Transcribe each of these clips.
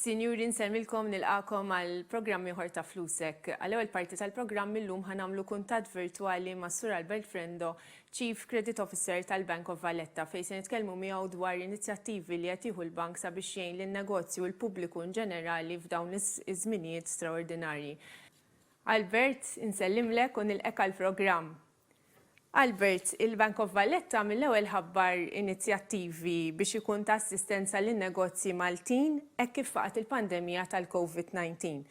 Sinjuri, nsemmilkom nilqakom għal programm ieħor ta' Flusek. Għal ewwel parti tal-programm illum ħanamlu kuntatt virtwali ma' Sur Albert Frendo, Chief Credit Officer tal-Bank of Valletta, fejn se nitkellmu miegħu dwar inizjattivi li qed jieħu l-bank sabiex jgħin lin-negozju u l-pubbliku in ġenerali f'dawn iż-żminijiet straordinarji. Albert, Insellimlek u nilqek għall-programm. Albert, Il-Bank of Valletta mill-ewwel ħabbar inizjattivi biex ikun ta' assistenza lin-negozji Maltin hekk kif faqgħet il-pandemija tal-Covid 19.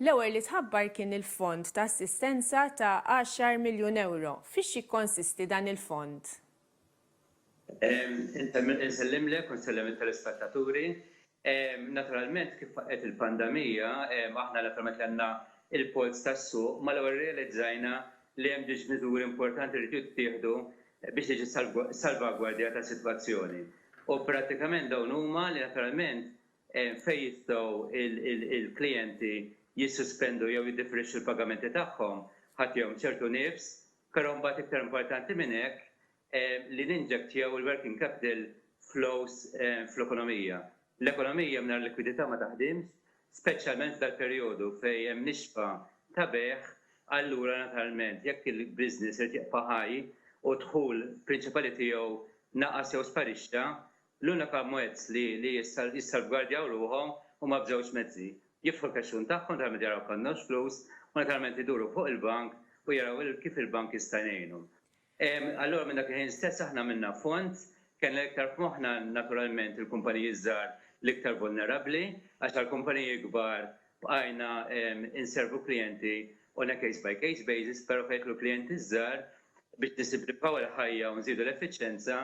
L-ewwel li tħabbar kien il-fond ta' assistenza ta' għaxar miljun ewro. Fiex jikkonsisti dan il-fond? Insellimlek u nsellem it-telespettaturi. Naturalment kif faqqgħet il-pandemija, aħna naturalment li għandna l-polz tas-suq, mal-ewwel irrealizzajna li hemm ġiex miżuri importanti li rridu jittieħdu biex tiġi salvagwardjata s-sitwazzjoni. U prattikament dawn huma li naturalment fejn jistgħu l-klijenti jissospendu jew jiddifferixxu l-pagamenti tagħhom, ħa tihom ċertu nifs Però mbagħad iktar importanti minn hekk li ninġektjaw il-working capital flows fl-ekonomija. L-ekonomija mingħajr likwidità ma taħdimx, speċjalment f'dal-perjodu fejn hemm nixfa ta' bejgħ, allura naturalment jekk il-business irid jibqa' ħaj u d-dħul prinċipali tiegħu naqas jew sparixxa, L-unika mezz li jissalvgwardjaw ruħhom huma b'żewġ mezzi, jiftħu l-kexxun tagħhom naturalment jaraw kollox flus u naturalment iduru fuq il-bank u jaraw kif il-bank jista' jgħinhom. Allura minn dak il-ħin stess aħna għamilna fond, kellna iktar f'moħħna naturalment il-kumpaniji ż-żgħar l-iktar vulnerabbli għax għall-kumpaniji kbar bqajna nservu klijenti on a case by case basis però fejn jidħlu klijenti ż-żgħar biex nisimplifikaw il-ħajja u nżidu l-effiċjenza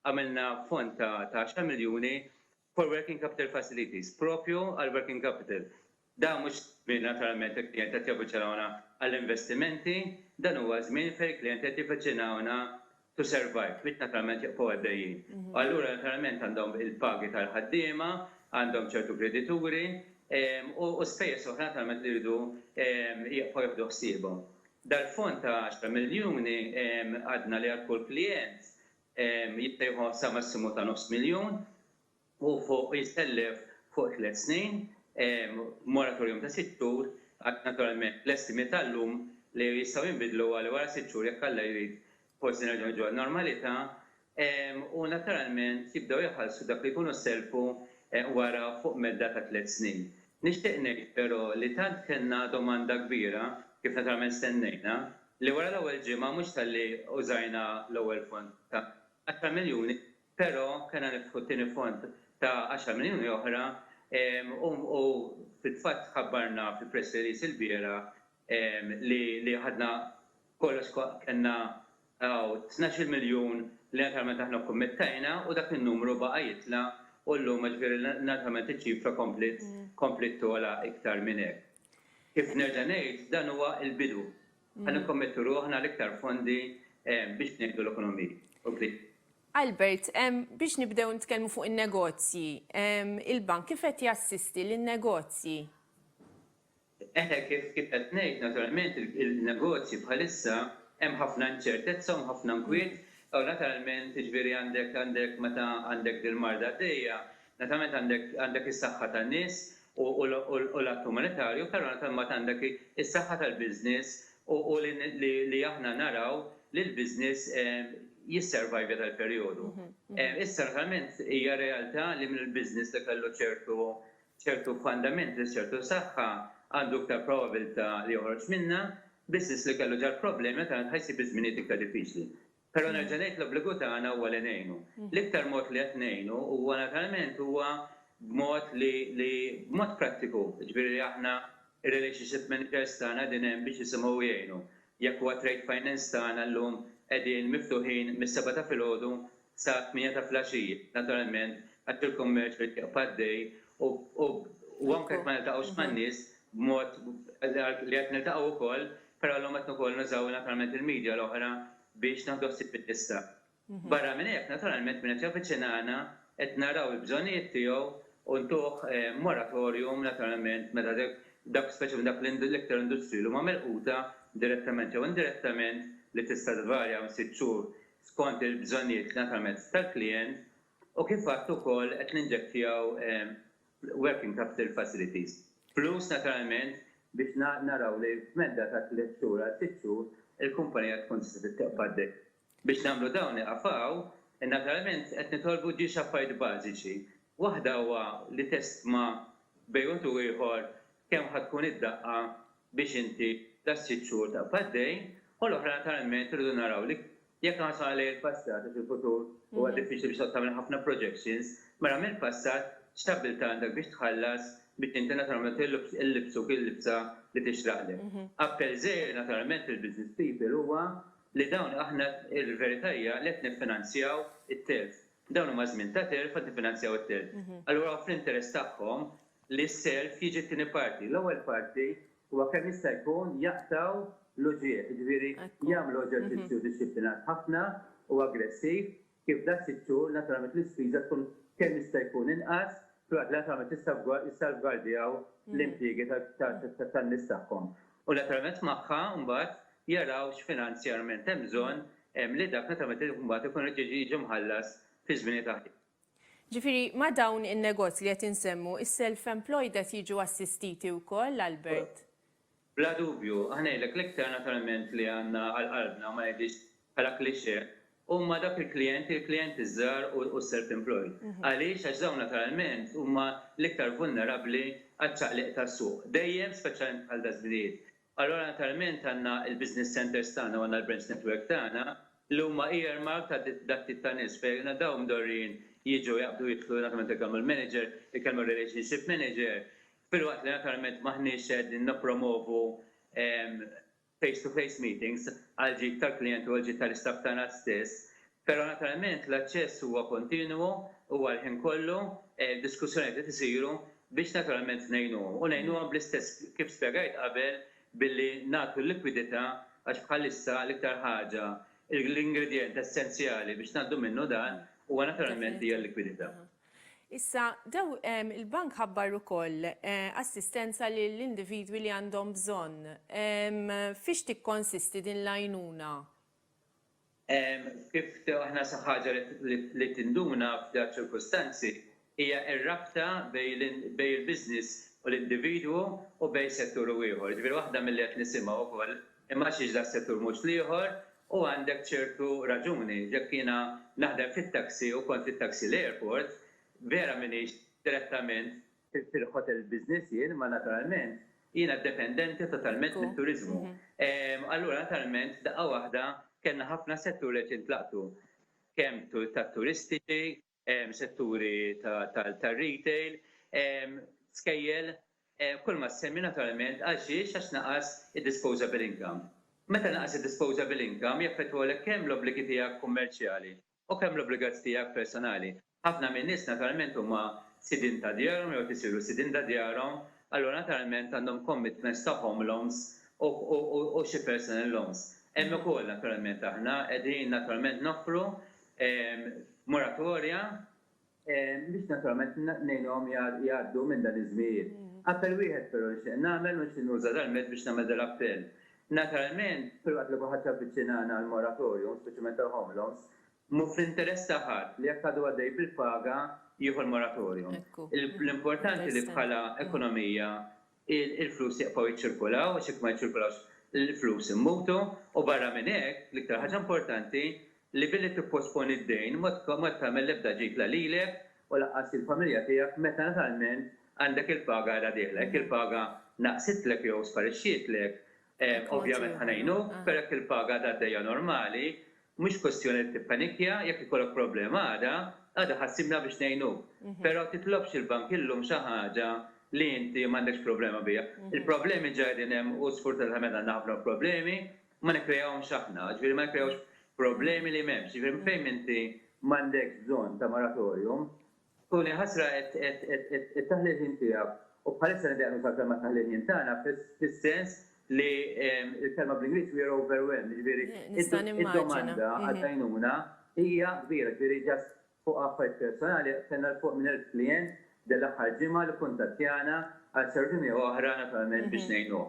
għamilna fond ta' għaxar miljuni for working capital facilities, proprju għall-working capital. Dan mhux żmien naturalment il-klijent qed javviċinawna għall-investimenti, dan huwa żmien fejn il-klijenti qed jivviċinawna to survive, biex naturalment jibqgħu għaddejjin. U allura naturalment għandhom il-pagi tal-ħaddiema, għandhom ċertu kredituri, u spejjeż oħra naturalment li jridu jibqgħu jieħdu ħsiebhom. Dal-fond ta' għaxar miljuni għadna li għal kull klijent jista' jieħu sa massimu ta' nofs miljun u fuq jissellef fuq tliet snin b'moratorium ta' sitt xhur għax naturalment l-estimi tal-lum li jistgħu jinbidlu għal wara sitt xhur jekk Alla jrid forsi nerġgħu niġu għan-normalità u naturalment jibdew iħallsu dak li jkunu sellfu wara fuq medda ta' tliet snin. Nixtieq ngħid però li tant kellna domanda kbira, kif naturalment stennejna, li wara l-ewwel ġimgħa mhux talli użajna l-ewwel fond ta' għaxar miljuni però kellna niftħu t-tieni fond ta' għaxar miljuni oħra u fil-fatt ħabbarna fi press release ilbieraħ li ħadna kollox kellna hawn tnax-il miljun li naturalment aħna kkummittajna u dak in-numru baqa' jitla' u llum jiġifieri naturalment iċ-ċifra kompliet kompliet togħla iktar minn hekk. Kif nerġa' ngħid, dan huwa l-bidu. Ħa nikkommettu ruħna għal iktar fondi biex ngħinu l-ekonomiji u l-bdiewa. Albert, biex nibdew nitkellmu fuq in-negozji, il-Bank kif qed jassisti lin-negozji? Eħe, kif qed ngħid, naturalment il-negozji bħalissa hemm ħafna inċertezza u ħafna nkwiet u naturalment jiġifieri għandek meta għandek dil-marda għaddejja Naturalment għandek għandek is-saħħa tan-nies u u u l-att umanitarju, però naturalment għandek is-saħħa tal-business u u li li li aħna naraw li l-business jisservajvja tal-perjodu. Issa naturalment hija realtà li minn il-business li kellu ċertu ċertu fundament li ċertu saħħa għandu iktar probabiltà li joħroġ minnha, business li kellu ġar-problemi naturalment ħa jsib iż-żminijiet iktar diffiċli. Però nerġa' ngħid l-obbligu tagħna huwa li ngħinu. L-iktar mod li qed ngħinu huwa naturalment huwa b'mod li li b'mod prattiku, jiġifieri li aħna r-relationship managers tagħna qegħdin hemm biex jisimgħu u jgħinu. Jekk huwa trade finance tagħna llum qegħdin miftuħin mis-sebgħa ta' filgħodu sa tmienja ta' flaxija, naturalment għax il-kummerċ irid jibqa' għaddej u u anke jekk ma niltaqgħux man-nies b'mod li qed niltaqgħu wkoll Però llum qed ukoll nużaw naturalment il-media l-oħra biex naħdu ħsieb in-nisa. Barra minn hekk, naturalment min qed javviċinana qed naraw il-bżonnijiet tiegħu u ntuh moratorium naturalment meta dak speċjalment dak l-iktar industriji li huma milquta direttament jew indirettament li tista' tvarja minn sitt xhur skont il-bżonnijiet naturalment tal-klijent u kif għedt ukoll qed ninġettjaw Working Capital Facilities. Flus naturalment biex naraw li f'medda ta' tliet xhur għal sitt xhur il-kumpanija tkun tista' titteqba' d-dejn. Biex nagħmlu dawn iqafgħu, naturalment qed nitolbu ġiex affarijiet bażiċi. Waħda huwa li test ma' bejgħut u ieħor kemm ħa tkun id-daqqa biex inti f'das-sitt xhur taqba' d-dejn u l-oħra naturalment irridu naraw li Jekk nħarsu lejn il-passat u fil-futur, huwa diffiċli biex tgħodd tagħmel ħafna projections, mela mill-passat x'abbiltà għandek biex tħallas biex inti naturalment illibsuk il-libsa li tixraqlek? Appell żgħir naturalment lill-business people huwa li dawn aħna l-verità hija li qed niffinanzjaw it-telf. Dawn huma żmien ta' telf qed niffinanzjaw it-telf. Allura hu fl-interess tagħhom li s-self jiġi t-tieni parti. L-ewwel parti Huwa kemm jista' jkun jaqtgħu l-uġigħ, jiġifieri jagħmlu eżerċizzju dixxiplinat ħafna u aggressiv, kif da' sitt xhur naturalment l-ispiża tkun kemm jista' jkun inqas filwaqt li naturalment jissalvgwardjaw l-impjiegi tan-nies tagħhom. U naturalment magħha mbagħad jaraw x'finanzjarment hemm bżonn li dak naturalment mbagħad ikun irid jiġi mħallas fi żminijiet aħjar. Ġifieri ma' dawn in-negozji li qed insemmu, is-self-employed qed jiġu assistiti wkoll, Albert? Bla dubju. Ħa ngħidlek, l-iktar naturalment li għandna għal qalbna, ma ngħidhiex bħala cliché, huma dawk il-klijenti, il-klijenti ż-żgħar u s-self-employed. Għaliex? Għax dawn naturalment huma l-iktar vulnerabbli għaċ-ċaqliq tas-suq. Dejjem, speċjalment bħal daż-żminijiet, Allura naturalment għandna l-business centres tagħna u għandna l-branch network tagħna li huma earmarked għal dat-tip ta' nies fejn dawn mdorrijin jiġu jaqbdu jidħlu naturalment ikellmu l-manager, ikellmu r-relationship manager, filwaqt li naturalment m'aħniex qegħdin nippromovu face to face meetings għall-ġid tal-klijenti u għall-ġid tal-istaff tagħna stess, Però naturalment l-aċċess huwa kontinwu, huwa l-ħin kollu, diskussjonijiet qed isiru biex naturalment ngħinuhom. U ngħinuhom bl-istess, kif spjegajt qabel, billi nagħtu l-likwidità għax bħalissa l-iktar ħaġa, l-ingredjent essenzjali biex ngħaddu minnu dan huwa naturalment hija l-likwidità. Issa, il-Bank ħabbar ukoll assistenza lil individwi li għandhom bżonn. Fiex tikkonsisti din l-għajnuna? Kif sew aħna sa ħaġa li tinduna f'da ċirkustanzi hija r-rabta bejn il-business u l-individwu u bejn settur u ieħor. Jiġifieri waħda milli qed nisimgħu wkoll imma għax jiġi da settur mhux l-ieħor u għandek ċertu raġuni. Jekk jiena naħdem fit-taxi u kont fit-taxi l-airport vera m'iniex direttament fil hotel business jien, ma naturalment jiena dependenti totalment mit-turiżmu. Allura naturalment f'daqqa waħda kellna ħafna setturi qed jintlaqtu. Kemm tat-turistiċi, setturi tar-retail, skejjel, kull ma ssemmi naturalment għal xiex għax naqas id-disposable income. Meta naqas id-disposable income jaffettwalek kemm l-obbligi tiegħek kummerċjali U kemm l-obbligazz tiegħek personali. Ħafna min-nies naturalment huma sidien ta' djarhom jew qed isiru sidien ta' djarhom, allura naturalment għandhom commitments ta' home loans u u xi personal loans. Hemm ukoll naturalment aħna qegħdin naturalment noffru moratorja biex naturalment ngħinuhom jgħaddu minn dan iż-żminijiet. Appell wieħed però nixtieq nagħmel u nixtieq nuża dal-mezz biex nagħmel dal-appell. Naturalment, filwaqt li kulħadd javviċina għal moratorium, speċjalment għal home loans, mhu fl-interess ta' ħadd li jekk għadu għaddej bil-paga jieħu l-moratorium. L-importanti li bħala ekonomija il-flus jieqfgħu jiċċirkulaw għax jekk ma jiċċirkulawx il-flus immutu u barra minn hekk, l-iktar ħaġa importanti, li billi tipposponi d-dejn ma tagħmel l-ebda ġid la lilek u lanqas lill-familja tiegħek meta natalment għandek il-paga għada dieħla. Jekk il-paga naqsitlek jew sparixxietlek, ovvjament ħa ngħinuk, però jekk il-paga għadha għaddejja normali, Mhux kwestjoni li tippanikja, jekk ikollok problema għada, għada ħassibna biex ngħinuk. Però titlobx il-bank illum xi ħaġa li inti m'għandekx problema biha. Il-problemi ġa qegħdin hemm u sfortunatament għandna ħafna problemi, ma nikkreahomx aħna, jiġifieri ma nikkreahux problemi li m'hemmx. Jiġifieri fejn inti m'għandekx bżonn ta' moratorium, Tkun hi ħasra qed taħli l-ħin tiegħek. U bħalissa nibdew nuża l-kelma taħli l-ħin tagħna fis-sens li l-kelma bl-Ingliż we are overwhelmed, jiġifieri d-domanda għal għajnuna hija kbira, jiġifieri ġast fuq affarijiet personali kellna 'l fuq minn elf klijent din l-aħħar ġimgħa li kkuntattjana għal servizzi oħra naturalment biex ngħinuh.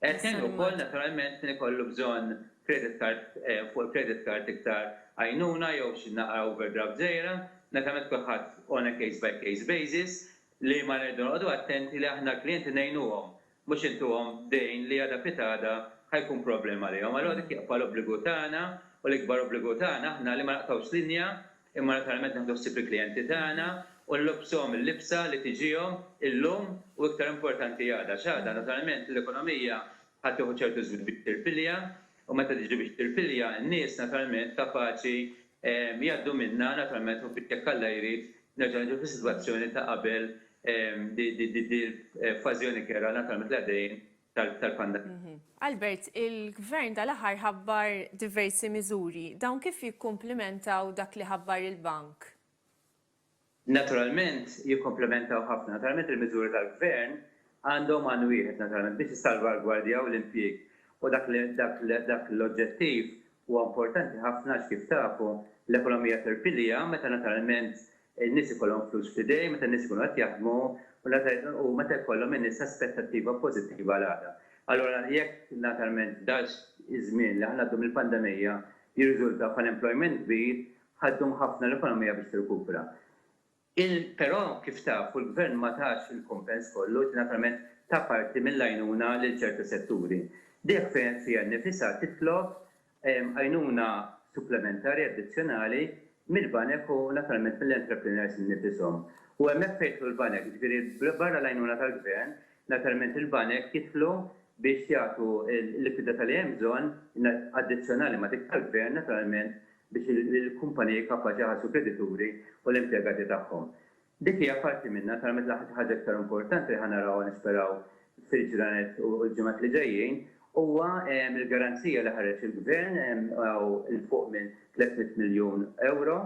Qed ngħin ukoll naturalment min ikollu bżonn credit card fuq il-credit card iktar għajnuna jew xi naqra overdraft żgħira. Naturalment kulħadd on a case by case basis. Liema li rridu noqogħdu attenti li aħna l-klijenti ngħinuhom mhux intuhom dejn li għada pitgħada ħa jkun problema għalihom. Allura dik hija l-obbligu tagħna u l-ikbar obbligu tagħna aħna li ma naqtgħux linja Imma naturalment nieħdu ħsieb il-klijenti tagħna u nlobbshom il-libsa li tiġihom illum u iktar importanti għada għax għada naturalment l-ekonomija ħa tieħu ċertu żwied b'irpilja u meta tiġi biex tirpilja n-nies naturalment kapaċi jgħaddu minnha naturalment u jekk Alla jrid nerġgħu niġu fis-sitwazzjoni ta' qabel di l-fażjonikera naturalment li għaddejjin tal-pandemija. Albert, il-Gvern dal-aħħar ħabbar diversi miżuri. Dawn kif jikkumplimentaw dak li ħabbar il-Bank? Naturalment jikkumplimentaw ħafna. Naturalment il-miżuri tal-Gvern għandhom għan wieħed naturalment biex jissalvagwardjaw l-impjieg u dak l-oġġettiv huwa importanti ħafna għax kif tafu l-ekonomija tirpilja meta naturalment in-nies ikollhom flus f'idejhom, meta n-nies ikunu qed jaħdmu u meta jkollhom in-nies aspettattiva pożittiva għal għada. Allura jekk naturalment dan iż-żmien li aħna għaddu mill-pandemija jirriżulta f'unemployment kbir, ħa ddum ħafna l-ekonomija biex tirkupra. Però kif tafu l-Gvern ma tax il-kumpens kollu, naturalment ta parti mill-għajnuna lil ċerti setturi. Dik fejn fiha nnifisha titlob għajnuna supplementari addizzjonali mill-banek u naturalment mill-entrepreneurs innifishom. U hemmhekk fejn jidħlu l-banek, jiġifieri barra l-għajnuna tal-gvern, naturalment il-banek jidħlu biex jagħtu l-likwidità li hemm bżonn, addizzjonali ma' dik tal-gvern, naturalment biex il-kumpaniji kapaċi jħallsu l-kredituri u l-impjegati tagħhom. Dik hija parti minn, naturalment l-ħaġa iktar importanti li ħa narawha nisperaw fil-ġranet u l-ġimgħat li ġejjin huwa l-garanzija li ħareġ il-Gvern hawn 'il fuq minn 300 miljun ewro,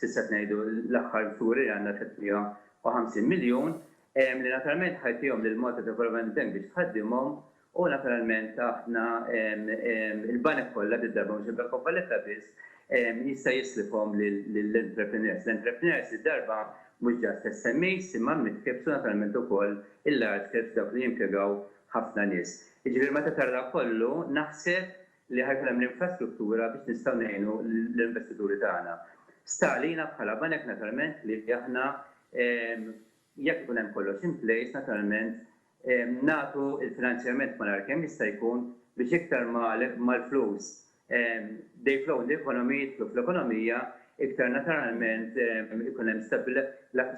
s'issa qed ngħidu l-aħħar figuri li għandna 350 miljun, li naturalment ħa jtihom lil Malta Development Bank biex tħaddimhom U naturalment aħna il-banek kollha din id-darba mhux il-Bank of Valletta biss jista' jislifhom lill-entrepreneurs. L-entrepreneurs din id-darba mhux just SMEs imma mid-caps u naturalment ukoll il-large caps dawk li jimpjegaw ħafna nies. Jiġifieri meta tara dan kollu naħseb li ħa jkun hemm l-infrastruttura biex nistgħu ngħinu lill-investituri tagħna. Sta għalina bħala banek naturalment li aħna jekk ikun hemm kollox in place naturalment Nagħtu l-finanzjament malajr kemm jista' jkun biex iktar ma l-flus they flow in the economy, jidħlu fl-ekonomija, iktar naturalment ikun hemm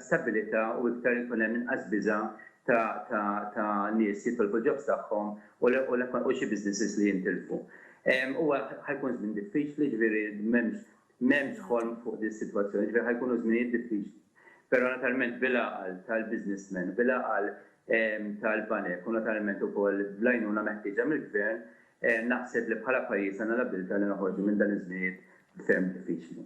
stabbilità u iktar ikun hemm inqas biża' ta' nies jitolbu l-jobs tagħhom u xi businesses li jintilfu. Huwa ħa jkun żmien diffiċli, jiġifieri m'hemmx M'hemmx ħolm fuq din is-sitwazzjoni, ġifieri ħa jkunu żminijiet diffiċli. Però naturalment bil-għaqal tal-businessmen, bil-għaqal tal-banek u naturalment ukoll bl-għajnuna meħtieġa mill-Gvern, naħseb li bħala pajjiż għandna l-abbiltà li noħorġu minn dan iż-żminijiet ferm diffiċli.